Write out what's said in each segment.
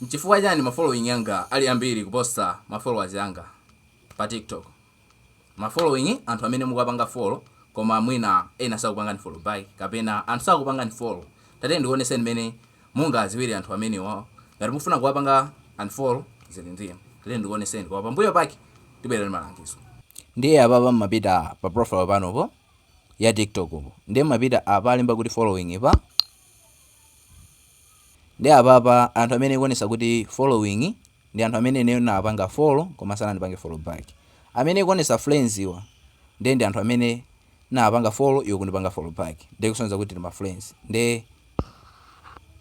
Nchifukwa chani ma following anga ali ambiri kuposa ma followers anga pa TikTok? Ma following anthu amene mukuwapanga follow koma mwina ena sakupangani follow back kapena anthu sakupangani follow. Tatiyeni ndikuoneseni mmene mungawadziwire anthu amenewa. Ngati mukufuna kuwapanga unfollow zili ndi inu. Tatiyeni ndikuoneseni koma pambuyo pake tibwera ndi malangizo. Ndiye apapa mmapita pa profile panupo ya TikTok po. Ndiye mmapita apa alemba kuti following pa. Ndiye apapa anthu amene ikuonesa kuti following ndi anthu amene ineyo ndinawapanga follow koma sanandipange follow back. Amene ikuonesa friends wa ndiye ndi anthu amene ndinawapanga follow iwo kundipanga follow back ndiye kusonyeza kuti tili ma friends. Ndiye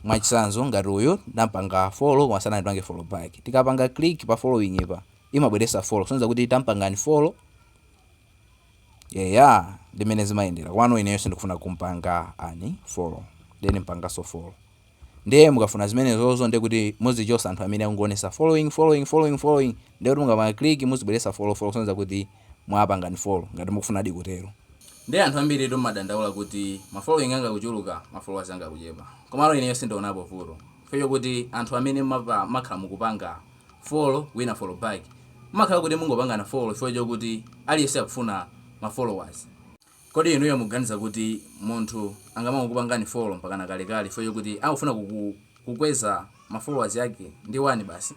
mwachisanzo ngati uyu ndampanga follow koma sanandipange follow back. Tikapanga click pa following pa imabweresa follow kusonyeza kuti tampanga unfollow. eya ndi mmene zimayendera komano ineyo sindikufuna kumpanga unfollow then mpangaso follow ndiye mukafuna zimenezozo ndiye kuti muzichosa anthu amene akungonesa following following following following ndiye kuti mukapanga click muzibweresa follow follow kusonyeza kuti mwapanga unfollow ngati mukufunadi kutero ndiye anthu ambiri timadandaula kuti ma following anga kuchuluka ma followers anga kuchepa komano ineyo sindionapo vuto chifukwa chokuti anthu amene mmakhala mukupanga follow wina follow back mumakhala kuti mungopangana follow chifukwa chokuti aliyense akufuna ma followers kodi inuyo mukuganiza kuti munthu angamangokupangani follow mpakana kalekale chifukwa chokuti angofuna kuku kukweza ma followers ake ndi 1 basi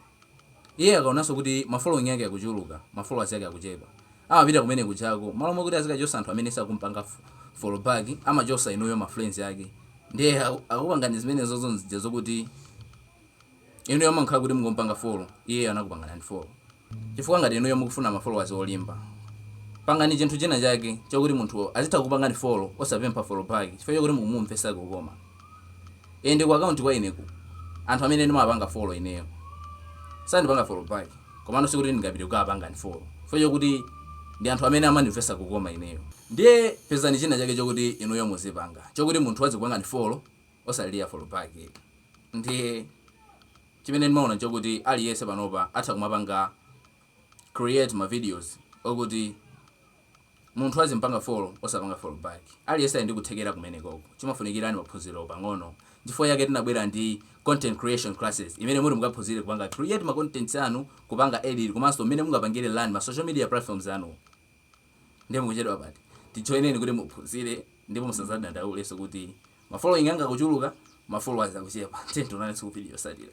iye akaonanso kuti ma following ake akuchuluka ma followers ake akuchepa amapita kumene kujako mmalo mokuti azikachosa anthu amene sakumpanga follow back amachosa inuyo ma friends ake ndiye akukupangani zimenezozo nzija zokuti Inuyo mumakhala kuti mukumupanga follow iyeyo anakupangani unfollow chifukwa ngati inuyo mukufuna ma followers olimba pangani chinthu china chake chokuti munthu azitha kukupangani follow osapempha follow back chifukwa chokuti mukumumvesa kukoma and ku account kwa ineku anthu amene ndimawapanga follow ineyo sandipanga follow back komano sikuti ndingapite kukawapanga unfollow chifukwa chokuti ndi anthu amene amandimvesa kukoma ineyo ndiye pezani china chake chokuti inuyo muzipanga chokuti munthu azikupangani follow osalilira follow back ndiye chimene ndimaona nchokuti aliyese panopa atha kumapanga create ma videos okuti munthu azimpanga follow osapanga follow back aliyese ali ndi kuthekera kumenekoko chimafunikira ni maphunziro pang'ono nchifukwa chake tinabwera ndi content creation classes imene muti mukaphunzire kupanga create ma contents anu kupanga edit komanso mmene mungapangire run ma social media platforms anuwo Ndiye mukuchedwa pati, tijoineni kuti muphunzire ndipo musazadandaulenso kuti ma following anga akuchuluka ma followers akuchepa. Tiyeni tionanenso ku video yotsatira.